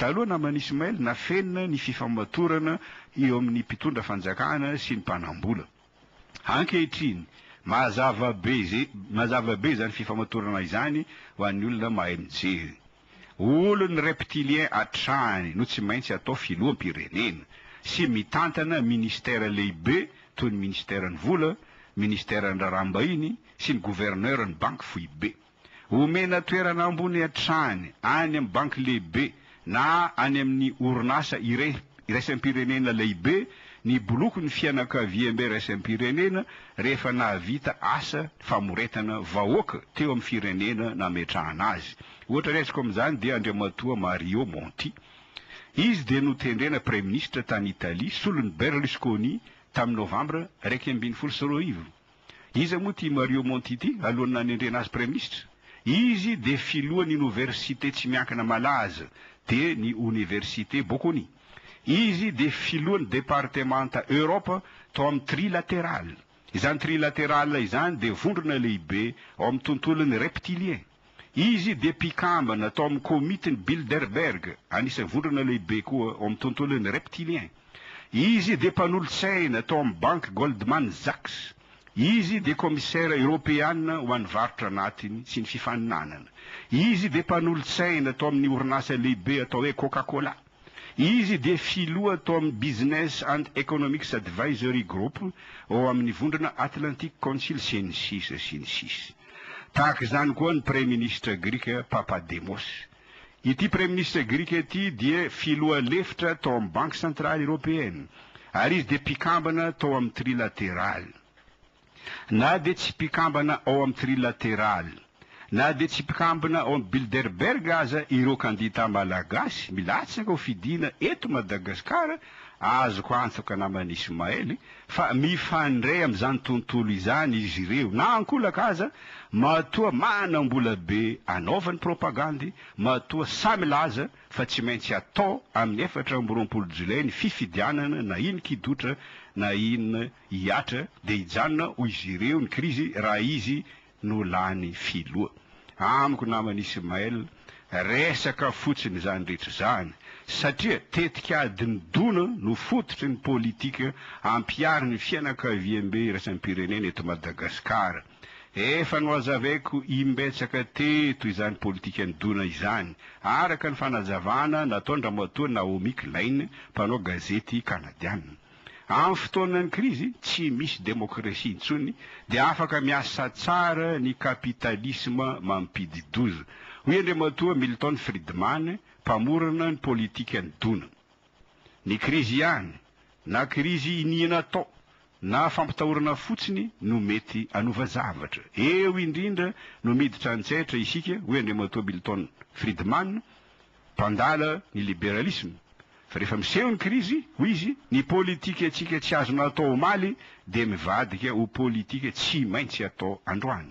Taloha naman'i Ismail, nafenina ny fifamatorana eo amin'ny mpitondra fanjakana sy ny mpanambola. Ankehitriny, mazava be mazava be izany fifamatorana izany ho an'ny olona mahay mijery. Olon'ny reptiliens hatrany no tsy maintsy atao filoham-pirenena sy mitantana ministère lehibe toy ny Ministeran'ny Vola, Ministeran'ny Raharaham-bahiny sy ny Gouverneur-n'ny Banky Foibe. Omena toerana ambony hatrany any amin'ny banky lehibe na any amin'ny orinasa iraisam-pirenena lehibe ny bolokin'ny fianakaviambe iraisam-pirenena rehefa nahavita asa famoretana vahoaka teo amin'ny firenena nametrahana azy. Ohatra raisiko amin'izany dia Andriamatoa Mario Monti. Izy dia notendrena Praiminisitra tany Italia solon'i Berlusconi tamin'ny Novambra iraika ambin'ny folo sy roa arivo. Iza moa ity Mario Monti ity alohan'ny nanendrena azy Praiminisitra? Izy dia filohan' inoversite tsy miankina malaza dia ny Oniversite Bocconi. Izy dia filohan'ny departemanta Europe tao amin'ny Trilateral. Izany Trilateral izany dia vondrona lehibe ao amin'ny tontolon'ny Reptilien. Izy dia mpikambana tao amin'ny Komitin'i Bilderberg, anisan'ny vondrona lehibe koa ao amin'ny tontolon'ny reptiliens. Izy dia mpanolotsaina tao amin'ny banky Goldman Sachs. Izy dia Kaomisera Eoropeana ho an'ny Varotra Anatiny sy ny Fifaninanana. Izy dia mpanolotsaina tao amin'ny orinasa lehibe atao hoe Coca-Cola. Izy dia filoha tao amin'ny Business and Economics Advisory Group ao amin'ny Vondrona Atlantic Council sy ny sisa sy ny sisa. Tahaka izany koa ny Praiminisitra Grika Papademos. Ity Praiminisitra Grika ity dia filoha lefitra tao amin'ny Banky Santraly Eropeana ary izy dia mpikambana tao amin'ny Trilateraly. Na dia tsy mpikambana ao amin'ny Trilateraly, na dia tsy mpikambana ao amin'ny Bilderberg aza ireo kandita malagasy milatsaka ho fidiana eto Madagasikara, azoko antoka naman'i Ismaël fa mifandray amin'izany tontolo izany izy ireo, na ankolaka aza, matoa manam-bola be anaovany propagandy, matoa sahy milaza fa tsy maintsy atao amin'ny efatra amby roapolo jolay ny fifidianana na iny kidotra na iny Hihatra dia hijanona hoy izy ireo ny krizy raha izy no lany filoha. Amiko namana Ismaël, resaka fotsiny izany rehetra izany satria tetika adin'ny dona no fototry ny politika ampiharin'ny fianakaviambe iraisam-pirenena eto Madagasikara. Efa nohazavaiko imbetsaka teto izany politikan'ny dona izany, araka ny fanazavana nataon-dRamatoa Naomi Klein, mpanao gazety Kanadiana. Amin'ny fotoanan'ny krizy, tsy misy demokrasia intsony, dia afaka miasa tsara ny kapitalisma mampidi-doza, hoy Andriamatoa Milton Friedman, mpamorona ny politikan'ny dona. Ny krizy ihany, na krizy iniana atao, na fampitahorana fotsiny no mety hanova zavatra. Eo indrindra no miditra an-tsetra isika, hoy Andriamatoa Milton Friedman, Mpandala ny liberalisme fa rehefa miseho ny krizy, hoy izy, ny politikantsika tsy azonao atao omaly dia mivadika ho politika tsy maintsy atao androany.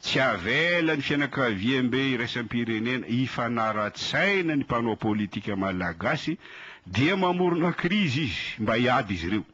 Tsy avela ny fianakaviambe iraisam-pirenena hifanara-tsaina ny mpanao politika malagasy dia mamorona krizy izy mba hiady izy ireo.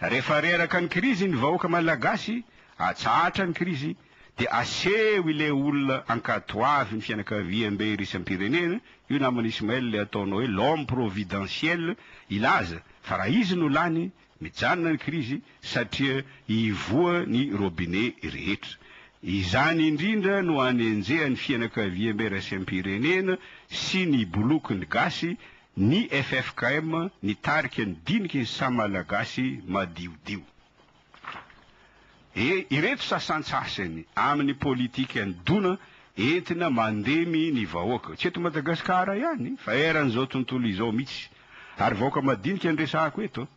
Refa reraka ny krizy ny vahoaka malagasy atsahatra ny krizy de aseho ile olona ankatoavy ny fianakaviam be irisam pirenena io namana ismael le ataonao hoe l'homme providentiel ilaza fa raha izy no lany mijanona ny krizy satria ivoa ny robinet rehetra izany indrindra no anenjehan fianakaviam be rasam pirenena sy ny boloky ny gasy Ny ffkm nitarika ny diniky ny saha Malagasy madiodio. Dia ireto sasantsasany amin'ny politikan'i Dona entina mandemy ny vahoaka. Tsy eto Madagasikara ihany fa eran'izao tontolo izao mihitsy. Ary vahoaka madinika no resahako eto.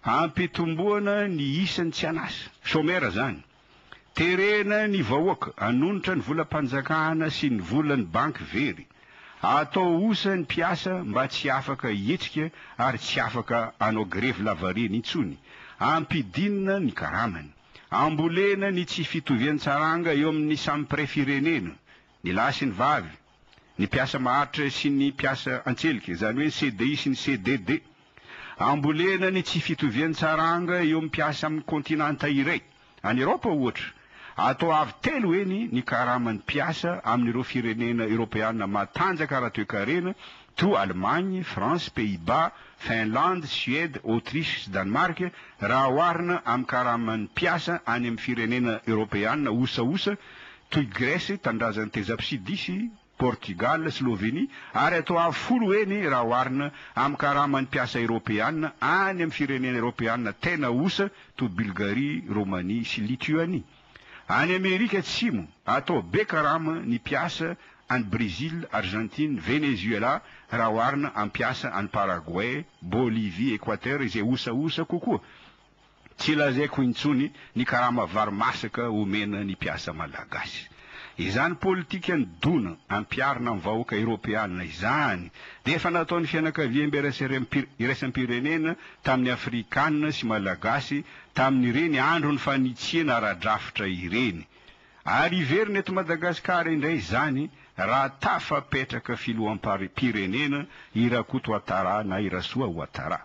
Ampitomboana ny isan'ny tsy an'asa. Chômeur izany. Terena ny vahoaka, hanonitra ny volam-panjakana sy ny volan'ny banky very, atao osa ny mpiasa mba tsy afaka hihetsika ary tsy afaka hanao grevy lavareny intsony, ampidinina ny karamany, ambolena ny tsy fitovian-tsaranga eo amin'ny samy mpiray firenena, ny lahy sy ny vavy, ny mpiasa maharitra sy ny mpiasa an-tselika, izany hoe ny CDI sy ny CDD. Ambolena ny tsy fitovian-tsaranga eo amin'ny mpiasa amin'ny kontinanta iray. Any Eraopa, ohatra, atao avo telo heny ny karaman'ny mpiasa amin'ireo firenena Eropeana matanjaka ara-toekarena toa Allemagne, France, Pays-Bas, Finlande, Suède, Autriche sy Danemark raha oharina amin'ny karaman'ny mpiasa any amin'ny firenena Eropeana osaosa toy Gresy, Tanindrazan'i Tezapsidisy, Portigaly, Slovenia, ary atao avo folo heny raha oharina amin'ny karaman'ny mpiasa eropeana any amin'ny firenena eropeana tena osa toy Bulgarie, Romania sy Lituanie. Any Amerika Atsimo, atao be karama ny mpiasa any Brezila, Arzantina, Venezuela raha oharina amin'ny mpiasa any Paragoay, Bolivia, Ekoatera izay osaosa kokoa. Tsy lazaiko intsony ny karama vary masaka omena ny mpiasa malagasy. Izany politikan'ny dona ampiharina amin'ny vahoaka eropeanina izany dia efa nataon'ny fianakaviambe iraisam-pirenena tamin'ny afrikanina sy malagasy tamin'ireny andron'ny fanitsiana ara-drafitra ireny. Ary hiverina eto Madagasikara indray izany raha tafapetraka filoham-pirenena i Rakotoatara na i Rasoa Ouattara.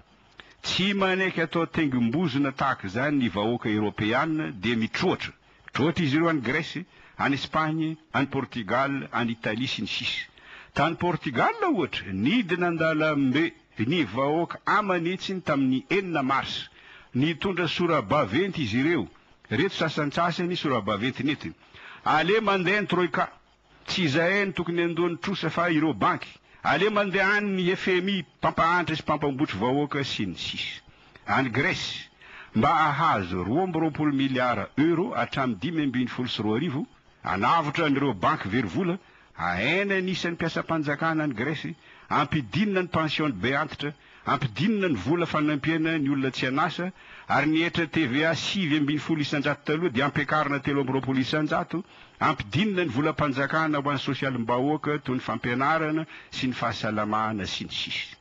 Tsy manaiky atao tengim-bozona tahaka izany ny vahoaka eropeana dia mitroatra. Mitroatra izy ireo any Gresy, any Espagne, any Portugal, any Italie sy ny sisa. Tany Portugal ohatra, nidina an-dalambe ny vahoaka aman'hetsiny tamin'ny enina mars. Nitondra sora-baventy izy ireo. Ireto sasantsasany sora-baventy nentiny. Aleha mandeha ny Troika. Tsy izahay no tokony handoa ny trosa fa ireo banky. Aleo mandeha any ny FMI mpampahantra sy mpampambotry vahoaka sy ny sisa. Any Grèce, mba hahazo roa amby roapolo miliara Euro hatramin'ny dimy ambin'ny folo sy roa arivo, hanavotra an'ireo banky very vola, hahena ny isan'ny mpiasam-panjakana any Grèce, hampidinina ny pension-ny be antitra, Ampidinina ny vola fanampiana ny olona tsy an'asa ary ny hetra TVA sivy ambin'ny folo isan-jato taloha dia ampiakarina telo amby roapolo isan-jato, ampidinina ny volam-panjakana ho an'ny sosialim-bahoaka toy ny fampianarana sy ny fahasalamana sy ny sisa.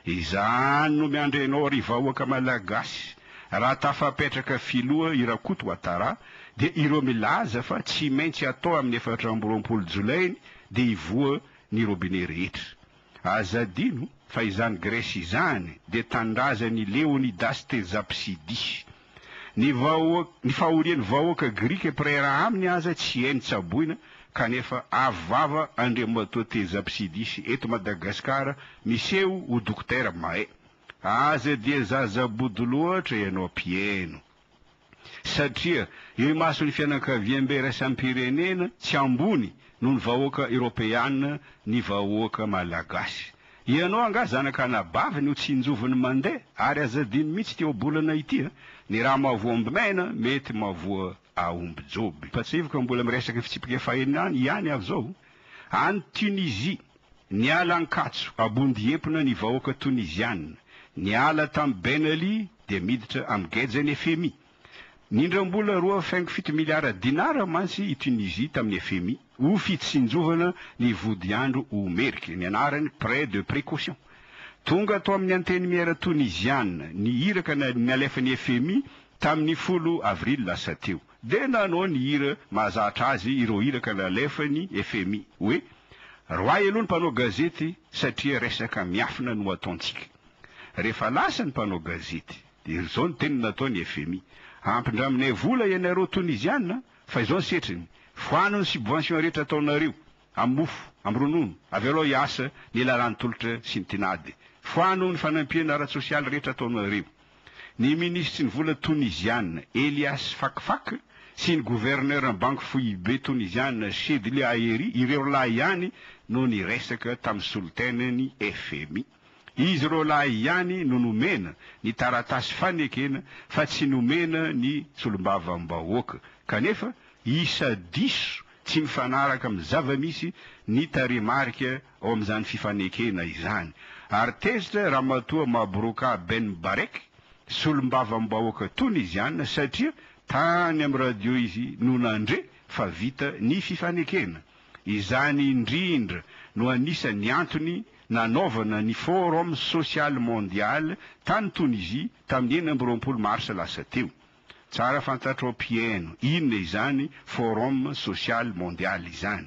Izany no miandry anao ry vahoaka Malagasy raha tafapetraka filoha i Rakoto Ouattara dia ireo milaza fa tsy maintsy atao amin'ny efatra amby roapolo jolainy dia hivoha ny robinet rehetra. Aza adino fa izany Gresy izany dia tanindrazan' i Leônidasy teny Zapsidisy. Ny vahoaka, ny fahorian' ny vahoaka grika mpireiraha aminy aza tsy hay ny tsaboina, kanefa avo vava Andriamatoa teny Zapsidisy eto Madagasikara miseho ho Dokotera Mae. Aza dia zaza bodo loatra ianao mpieno. satria imason'ny fianakaviambe iraisam-pirenena tsy ambony noho ny vahoaka eropeana ny vahoaka malagasy. Ianao angaha zanak'anabaviny ho tsinjoviny mandeha ary aza adino mihitsy ity ohabolana ity a! Ny rà mahavoa omby maina mety mahavoa aomby joby. Mpatsivoka mbola miresaka ny fitsipika fahenina any ihany aho zao any Tunisie. Niala ankatso abondihepona ny vahoaka Toniziana, niala tamin'i Ben Ali dia miditra amin'ny gejan'ny fmi. Nindram-bola roa faingo fito miliara dinara mantsy i Tunisia tamin'ny fmi ho fitsinjovana ny vodiandro Omerc, ny anarany prêt de précaution. Tonga tao amin'ny Antenimiera Toniziana ny iraka nalefan'ny fmi tamin'ny folo avrily lasa teo. Dia nanao ny hira mahazatra azy ireo iraka nalefan'ny fmi hoe, Roahy aloha ny mpanao gazety satria resaka miafina no ataontsika. Rehefa lasa ny mpanao gazety, dia ry zao ny teniny nataon'ny fmi, Ampindraminay vola ianareo Toniziana fa izao ny setriny, foano ny subvention rehetra ataonareo. amin'ny mofo, amin'ny ronono, avy eo aloha hiasa ny lalàn'ny tolotra sy ny tinady. Foano ny fanampiana ara-tsosialy rehetra ataonareo. Ny minisitry ny vola Toniziana, Elias Fakfak, sy ny governeran'ny banky foibe Toniziana, Chedly Aeri, ireo roalahy ihany no niresaka tamin'ny solontenan'ny fmi. Izy roalahy ihany no nomena ny taratasy fanekena fa tsy nomena ny solombavambahoaka, kanefa isa diso tsy mifanaraka amin'ny zava-misy ny tarehimarika ao amin'izany fifanekena izany, ary tezitra Ramatoa Mabrouka Ben Barek, solombavambahoaka Toniziana, satria tany amin'ny radio izy no nandre fa vita ny fifanekena. Izany indrindra no anisan'ny antony nanaovana ny Forum Social Mondial tany Tonisie tamin'ny enina amby roapolo marsa lasa teo. Tsara fantatrao mpihaino inona izany Forum Social Mondial izany.